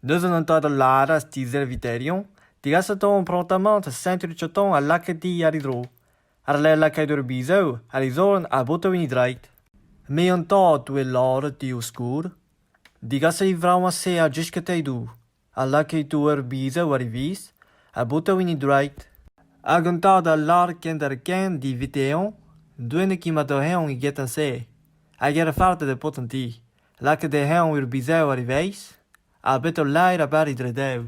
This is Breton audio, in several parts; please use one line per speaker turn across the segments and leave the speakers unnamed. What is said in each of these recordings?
Deus un hentadad lâret ti-serviterion degaset on prontamañ da Saint-Ruchotton ha lakaet di àr e dro, àr-lerc'h lakaat ur bizev ha e zorn a boto en e draed. Me an tad oe lâret eo skourr, degaset e vravañ-se a jiskatay-dou ha lakaito ur bizev war e viz ha boto en e draed. Hag an tad a lâr kenderc'hent di vete-eñ, doennek emato-eñ egetan-se, hag er fardañ e paotr an ti. Lakaet eo eñ war bizev ar vezh ha bet ul laer a-bare dre dev.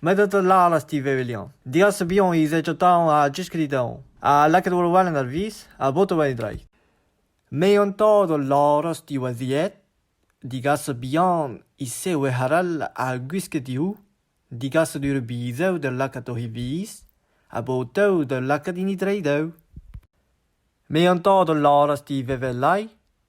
Met ur lalast ivez eo Liañ. Digas bihan he zezh-tañ ha diskrid eñ ha lakaat war welen ar vezh ha botañ war e dreid. Me an tad a lâras diwaziet digas bihan he sewec'h arall ha gwisket diouzh, digas d'ur bizev da lakaat oc'h e vezh ha botañ da lakaat hini dre dev. Me an tad a lâras ivez 'vel lai.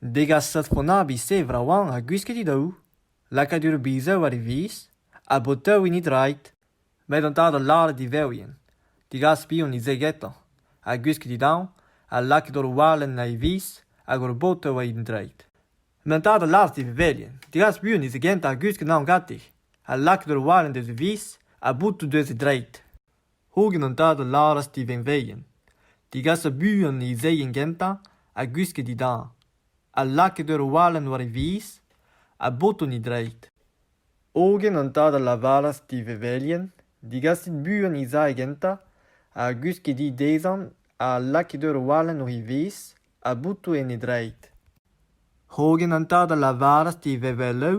Degas satronabiz-se vraoañ ha gwisket he daou, lakaat ur bizev war e viz, ha botañ hini drailh, met an tad a lâre d'e vev-ien degas piv-hont he ze getañ, ha gwisket he daou, ha lakaet hor walenn war e viz hag hor botañ war an drailh. Met an tad a lâras d'e vevelien degas buan he ze gentañ ha gwisket an anv gante, ha lakaet hor walenn deus e viz, ha boutañ deus e drailh. Hogen an tad a lâras d'e venveien degasañ buan e zeien gentañ ha gwisket e dad, ha lakaet ur walenn war e viz, ha botoù e dreid. Hogen an tad a lavaras d'e vevelien degasit buan e zae gentañ ha gwisket he dezhañ ha lakaet ur walenn war e viz ha botoù en e dreid. Hogen an tad a lavaras d'e veveloù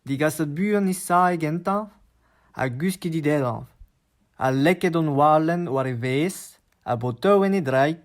Degaset buan he sae gentañ ha gwisket he dedañv, ha lakaet hon walenn war e vez, ha botoù en e draid.